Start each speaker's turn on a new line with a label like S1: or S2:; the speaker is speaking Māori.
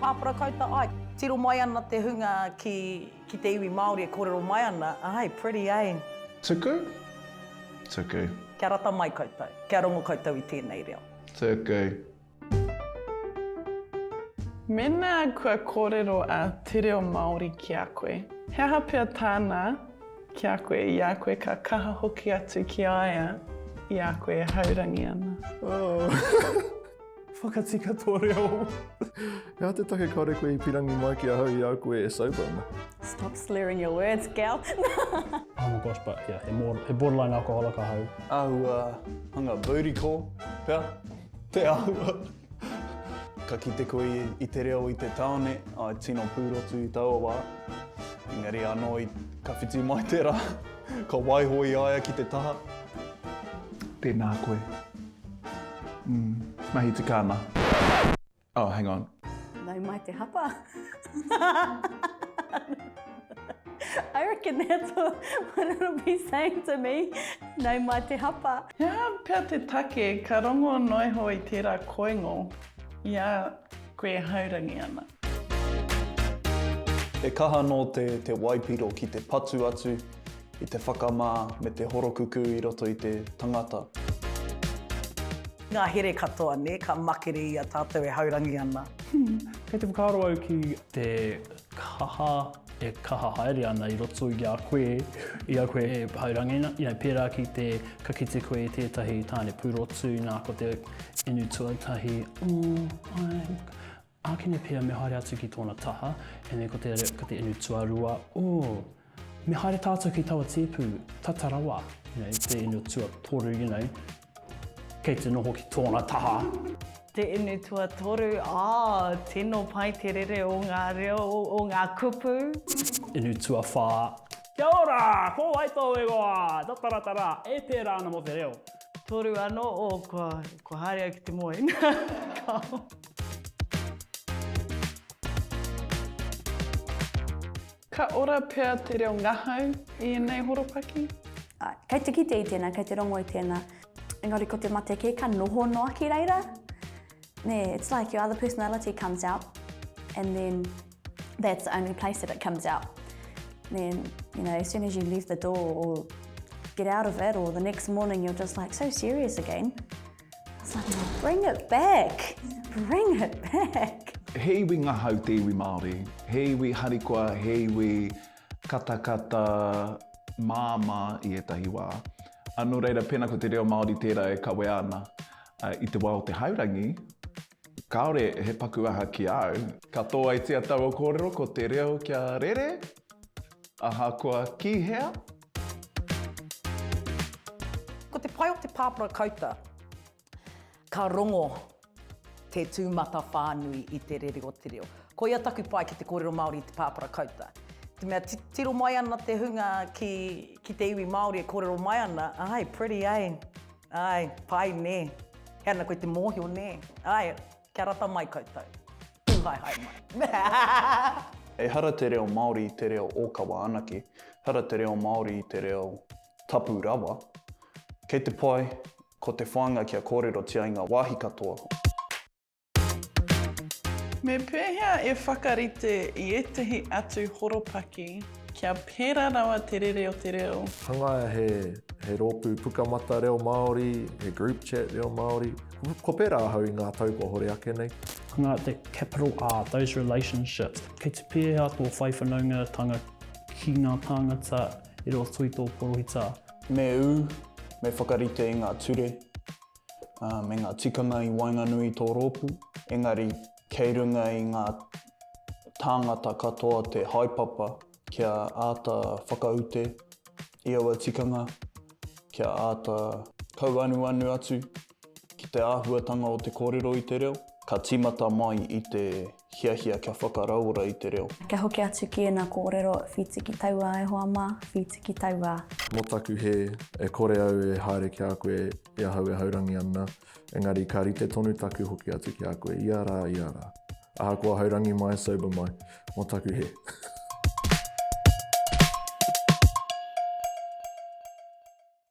S1: Pāpara Kauta Ike. Tiro mai ana te hunga ki ki te iwi Māori e kōrero mai ana, Ae, pretty eh? Tuku?
S2: Tuku. Kia rata mai
S1: koutou. Kia rongo koutou i tēnei reo. Tuku.
S3: Mēnā kua kōrero a Te Reo Māori ki a koe, he aha pea tāna ki a koe i a koe ka kaha hoki atu ki a ia i a koe e haurangi ana? Oh.
S4: Whakati katoa reo. Hea te take kare koe i pirangi mai ki ahau i au koe e sober ana. Stop slurring
S5: your words, gal. oh my
S6: gosh, but yeah, he, more, he borderline alcoholic ahau. Ahua,
S7: hanga booty call, pea? Te ahua. Ka kite koe i, i te reo i te taone, ai tino pūrotu i taua wā. Engari anō, ka whiti mai te rā, ka waiho i aia ki te taha.
S2: Tēnā koe. Mahi te kāma. Oh, hang on. Nau mai te
S5: hapa. I reckon that's what it'll be saying to me. Nau mai te hapa. He aha pea te
S3: take ka rongo noa iho i tērā koingo i a koe e haurangi ana?
S7: He kaha anō te te waipiro ki te patu atu i te whakamā me te horokukū i roto i te tangata.
S1: Ngā here katoa, nē, ka makere i a tātou e haurangi ana. Hum, kei te
S6: whakaaro au ki. Te kaha e kaha haere ana i roto i a koe, i a koe e haurangi ana, you know, pērā ki te, ka kite koe i tētahi tāne pūrotu, nā, ko te inu tuatahi, oh, ai, Ākene pea me haere atu ki tōna taha, ēnei ko te, ko te inu tuarua, oh, me haere tātou ki taua tēpu, tata rawa, you know, te inu tuatoru, you know, kei te noho ki tōna taha. Te inu
S5: tuatoru, oh, tino pai te rere o ngā reo, o ngā kupu. Inu
S6: tuawhā, kia ora, ko wai tōu ingoa, tataratara, e pērā ana mō te reo. Toru anō,
S5: oh, kua, kua haere au ki te moe.
S3: Ka ora pea te reo ngahau i ēnei horopaki? Kei te
S5: kitea i tēnā, kei te rongo i tēnā. Engari ko te mate kē ka noho noa ki reira. Nē, it's like your other personality comes out and then that's the only place that it comes out. Nē, you know, as soon as you leave the door or get out of it or the next morning you're just like so serious again. Bring it back! Bring it back! He iwi ngahau
S2: te iwi Māori. He iwi harikoa, he iwi katakata, māmā i ētahi wā. Ā, nō reira, pēnā ko te reo Māori tērā e kawea ana i te wā o te haurangi, kāore he paku aha ki a au. Ka tōaitia taua kōrero ko te reo kia rere, ahakoa ki hea.
S1: Ko te pai o te pāpara kauta, ka rongo te tūmatawhānui i te rere o te reo. Koia taku pai ki te kōrero Māori i te pāpara kauta. Te mea titiro mai ana te hunga ki, ki te iwi Māori e kōrero mai ana, āe, pretty, āe, āe, pai, nē. He ana koe te mōhio, nē, āe. Kia rata mai koutou. Pūhaehae mai. Ehara te
S7: reo Māori i te reo ōkawa anake, ehara te reo Māori i te reo tapu rawa. Kei te pai, ko te whāinga kia kōrerotia i ngā wāhi katoa.
S3: Me pēhea e whakarite i ētehi atu horopaki kia pērā rawa te rere o te reo? Hangaia he
S4: rōpū pukamata reo Māori, he group chat reo Māori. Ko pērā ahau i ngā tau kua hore ake nei. Nga te
S6: capital R, those relationships. Kei te pēhea tō whai whanaungatanga ki ngā tāngata i roto i tō porohita? Me ū,
S7: me whakarite i ngā ture, ā, me ngā tikanga i waenganui i tō rōpū, engari kei runga i ngā tāngata katoa te haepapa. Kia āta whakaute i aua tikanga, kia āta kauanuanu atu ki te āhuatanga o te kōrero i te reo. Ka tīmata mai i te hiahia kia whakarauora i te reo. Kia hoki atu ki ēnā
S5: kōrero, whīti ki tauā e hoa mā, whīti ki tauā. Mō taku hē,
S4: e kore au e haere ki a koe i ahau e haurangi ana. Engari ka rite tonu taku hoki atu ki a koe ia rā, ia rā. Ahakoa hai rangi mai, sober mai, mō taku he.